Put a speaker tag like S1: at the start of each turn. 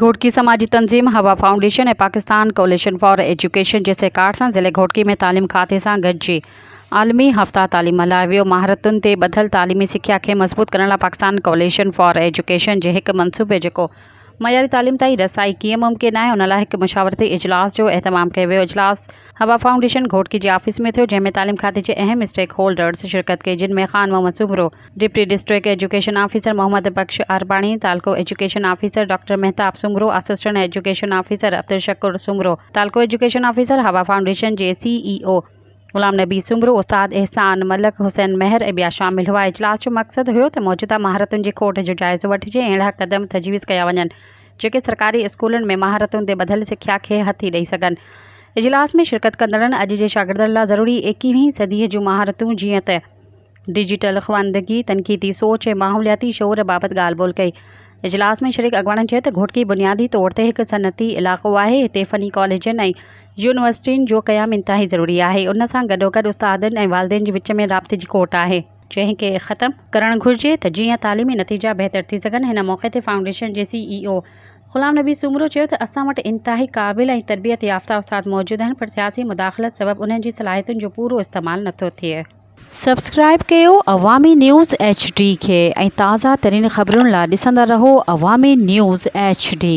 S1: گهوٽڪي سماجي تنظيم Hawa foundation ۽ Pakistan coalition for education جي سهڪار سان ضلعي گهوٽڪي ۾ تعليم کاتي سان گڏجي عالمي هفته تعليم ملهايو ويو. مهارتن تي ٻڌل تعليمي سکيا کي مضبوط ڪرڻ لاء پاڪستان ڪواليشن فار ايجوڪيشن جي هڪ منصوبي جيڪو معياري تعليم تائين رسائي ڪيئن ممڪن آهي ان لاء هڪ مشاورتي اجلاس جو اهتمام ڪيو ويو. اجلاس حوا فائونڊيشن گهوٽڪي جي آفيس ۾ ٿيو جنهن ۾ تعليم کاتي جي اهم اسٽيڪ هولڊرز شرڪت ڪئي جن ۾ Khan Muhammad Soomro, deputy district education officer Muhammad Bakhsh Arbani, تعلقو education officer doctor Mahtab Soomro, assistant education officer Abdul Shakoor Soomro, تعلقو ايجوڪيشن آفيسر هوا فائونڊيشن جي C E O Ghulam Nabi Soomro, استاد احسان ملڪ، حسين مهر ۽ ٻيا شامل هئا. اجلاس جو مقصد هيو ته موجوده مهارتن جي کوٽ جو جائزو وٺجي ۽ اهڙا قدم تجويز ڪيا وڃن جيڪي سرڪاري اسڪولن ۾ مهارتن تي ٻڌل سکيا کي هٿي ڏئي سگهن. اجلاس ۾ شرڪت ڪندڙن اڄ جي شاگردن لا ضروري ايڪيهين صديء جون مهارتون جيئن ته. ڊجيٽل خواندگي، تنقيدي سوچ ۽ ماحولياتي شعور بابت ڳالهه ٻولهه ڪئي. اجلاس ۾ شريڪ اڳواڻن چيو ته گهوٽڪي بنيادي طور تي هڪ صنعتي علائقو آهي، هتي فني ڪاليجن ۽ يونيورسٽين جو قيام انتهائي ضروري آهي، ان سان گڏوگڏ استادن ۽ والدين جي وچ ۾ رابطي جي کوٽ آهي، جنهن کي ختم ڪرڻ گهرجي ته جيئن تعليمي نتيجا بهتر ٿي سگهن، هن موقعي تي فائونڊيشن جي C E O Ghulam Nabi Soomro چيو ته اسان وٽ انتهائي قابل ۽ تربيت يافته استاد موجود آهن پر سياسي مداخلت سبب انهن جي صلاحيتن جو پورو استعمال نٿو ٿئي. سبسڪرائيب ڪيو عوامي نيوز ايڇ ڊي کي ۽ تازه ترين خبرن لا ڏسندا رهو عوامي نيوز ايڇ ڊي.